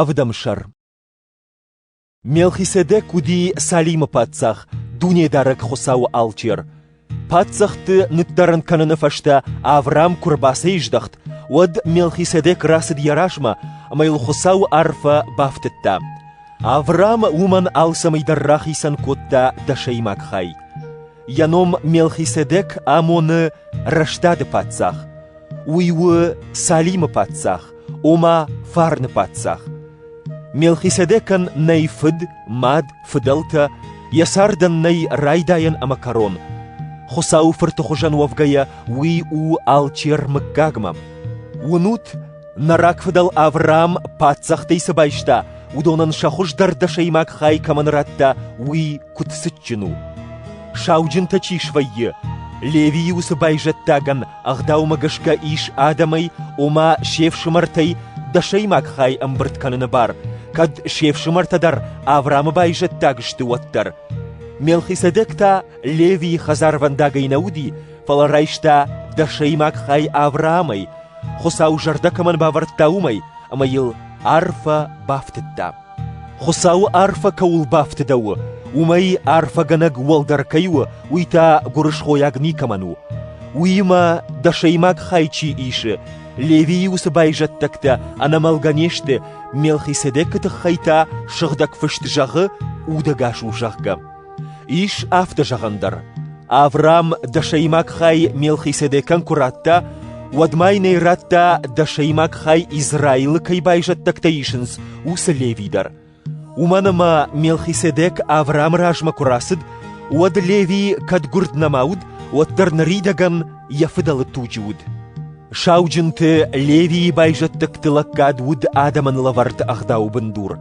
Ӕвдӕмсӕр Мелхиседек уыди Салимы паддзах, Дунедарӕг Хуыцауы алчер. Паддзӕхты ныддӕрӕн кӕныны фӕстӕ Авраам куы рбацӕйздӕхт, уӕд Мелхиседек рацыд йӕ размӕ ӕмӕ йыл Хуыцауы арфӕ бафтыдта. Авраам уымӕн алцӕмӕй дӕр рахицӕн кодта дӕсӕймаг хай. Йӕ ном Мелхиседек амоны рӕстады паддзах. Уый у Салимы паддзах, ома фарны паддзах. Мелхиседекӕн нӕй фыд, мад, фыдӕлтӕ, йӕ цардӕн нӕй райдайӕн ӕмӕ кӕрон. Хуыцауы фырты хуызӕн уӕвгӕйӕ, уый у алчер мыггагмӕ. Уынут, нӕ рагфыдӕл Авраам паддзӕхтӕй цы байста, уыдонӕн сӕ хуыздӕр дӕсӕймаг хай кӕмӕн радта, уый куыд цытджын у. Сауджынтӕ чи свӕййы, Левийы уыцы байзӕддагӕн Ӕгъдаумӕ гӕсгӕ ис адӕмӕй, ома се фсымӕртӕй дӕсӕймаг хай ӕмбырд кӕныны бар, кӕд се фсымӕртӕ дӕр Авраамы байзӕддаг сты, уӕддӕр. Мелхиседек та Левийы хӕдзарвӕндагӕй нӕ уыди, фӕлӕ райста дӕсӕймаг хай Авраамӕй, Хуыцау зӕрдӕ кӕмӕн бавӕрдта, уымӕй, ӕмӕ йыл арфӕ бафтыдта. Хуыцауы арфӕ кӕуыл бафтыдӕуы, уымӕй арфӕгӕнӕг уӕлдӕр кӕй у, уый та гуырысхойаг никӕмӕн у. Уыимӕ дӕсӕймаг хай чи исы, Левийы уыцы байзӕддӕгтӕ ӕнӕмӕлгӕ не сты, Мелхиседекы тыххӕй та Сыгъдӕг Фыст зӕгъы, удӕгас у, зӕгъгӕ. Ис афтӕ зӕгъӕн дӕр, Авраам дӕсӕймаг хай Мелхиседекӕн куы радта, уӕд ма йын ӕй радта, дӕсӕймаг хай Израилы кӕй байзӕддӕгтӕ исынц, уыцы Леви дӕр. Уымӕн ӕмӕ Мелхиседек Авраамы размӕ куы рацыд, уӕд Леви кӕд гуырд нӕма уыд, уӕддӕр ныридӕгӕн йӕ фыдӕлы туджы уыд. Сауджынты Левийы байзӕддӕгты лӕггад уыд адӕмӕн лӕвӕрд ӕгъдауы бындур.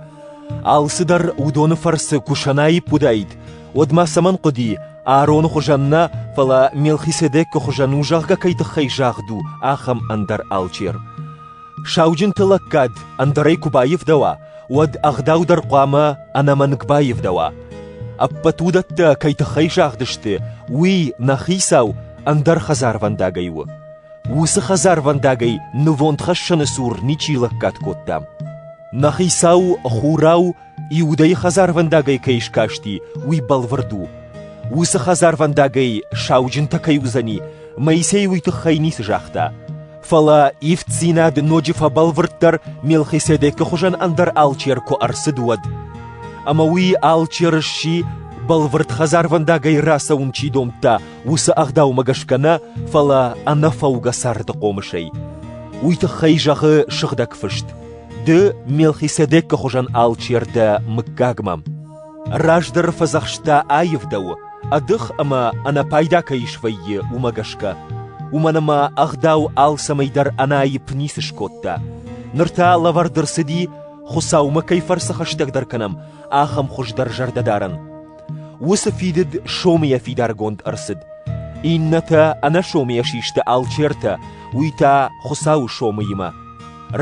Алцыдӕр уыдоны фӕрцы куы сӕнаипп уыдаид, уӕд ма цӕмӕн хъуыди, Аароны хуызӕн нӕ, фӕлӕ Мелхиседекы хуызӕн у, зӕгъгӕ кӕй тыххӕй загъд у, ахӕм ӕндӕр алчер. Сауджынты лӕггад ӕндӕрӕй куы баивдӕуа, уӕд ӕгъдау дӕр хъуамӕ ӕнӕмӕнг баивдӕуа. Ӕппӕт уыдӕттӕ кӕй тыххӕй загъдысты, уый, нӕ хицау, ӕндӕр хӕдзарвӕндагӕй у. Уыцы хӕдзарвӕндагӕй нывондхӕссӕны цур ничи лӕггад кодта. Нӕ хицау Хурау Иудӕйы хӕдзарвӕндагӕй кӕй скасти, уый бӕлвырд у. Уыцы хӕдзарвӕндагӕй сауджынтӕ кӕй уыдзӕни, Моисей уый тыххӕй ницы загъта. Фӕлӕ ивддзинад ноджы фӕбӕлвырддӕр Мелхиседекы хуызӕн ӕндӕр алчер куы ӕрцыд, уӕд. Ӕмӕ уый алчер сси, бӕлвырд хӕдзарвӕндагӕй рацӕуын чи домдта, уыцы ӕгъдаумӕ гӕсгӕ нӕ, фӕлӕ ӕнӕфӕугӕ царды хъомысӕй. Уый тыххӕй зӕгъы Сыгъдӕг Фыст: Ды Мелхиседекы хуызӕн алчер дӕ мыггагмӕ. Раздӕр фӕдзӕхста аивдӕу, ӕдых ӕмӕ ӕнӕпайда кӕй свӕййы, уымӕ гӕсгӕ. Уымӕн ӕмӕ ӕгъдау алцӕмӕй дӕр ӕнаипп ницы скодта. Ныр та лӕвӕрд ӕрцыди, Хуыцаумӕ кӕй фӕрцы хӕстӕгдӕр кӕнӕм, ахӕм хуыздӕр зӕрдӕдарӕн. Уыцы фидыд сомыйӕ фидаргонд ӕрцыд. Иннӕтӕ ӕнӕсомыйӕ систы алчертӕ, уый та Хуыцауы сомыимӕ.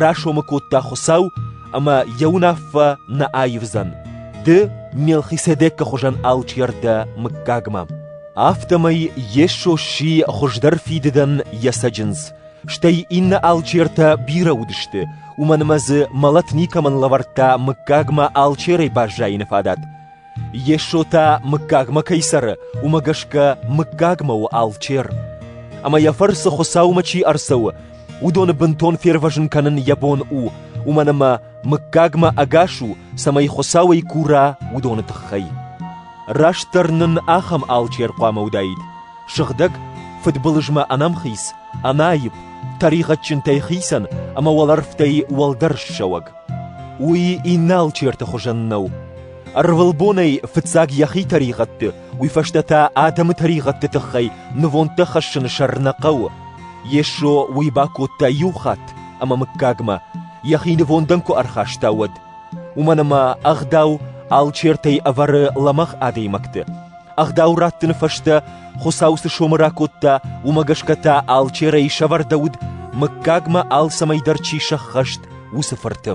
расомы кодта Хуыцау, ӕмӕ йӕ уынаффӕ нӕ аивдзӕн, ды Мелхиседекы хуызӕн алчер дӕ мыггагмӕ. Афтӕмӕй Йесо сси хуыздӕр фидыдӕн йӕ цӕджындз, стӕй иннӕ алчертӕ бирӕ уыдысты, уымӕн ӕмӕ дзы мӕлӕт никӕмӕн лӕвӕрдта мыггагмӕ алчерӕй баззайыны фадат. Йесо та мыггагмӕ кӕй цӕры, уымӕ гӕсгӕ мыггагмӕ у алчер. Ӕмӕ йӕ фӕрцы Хуыцаумӕ чи ӕрцӕуы, уыдоны бынтон фервӕзын кӕнын йӕ бон у, уымӕн ӕмӕ мыггагмӕ ӕгас у, цӕмӕй Хуыцауӕй кура, уыдоны тыххӕй. Растдӕр нын ахӕм алчер хъуамӕ уыдаид: сыгъдӕг, фыдбылызмӕ ӕнӕмхиц, ӕнаипп, тӕригъӕдджынтӕй хицӕн ӕмӕ уӕлӕрвтӕй уӕлдӕр ссӕуӕг. Уый Иналчерты хуызӕн нӕу. Ӕрвылбонӕй фыццаг йӕхи тӕригъӕдты, уый фӕстӕ та адӕмы тӕригъӕдты тыххӕй нывондтӕ хӕссыны сӕр нӕ хъӕуы. Йесо уый бакодта иу хатт ӕмӕ мыггагмӕ, йӕхи нывондӕн куы ӕрхаста, уӕд. Уымӕн ӕмӕ ӕгъдау алчертӕй ӕвӕры лӕмӕгъ адӕймӕгты. Ӕгъдау раттыны фӕстӕ Хуыцау цы сомы ракодта, уымӕ гӕсгӕ та алчерӕй сӕвӕрдӕуыд, мыггагмӕ алцӕмӕй дӕр чи сӕххӕст, уыцы фырты.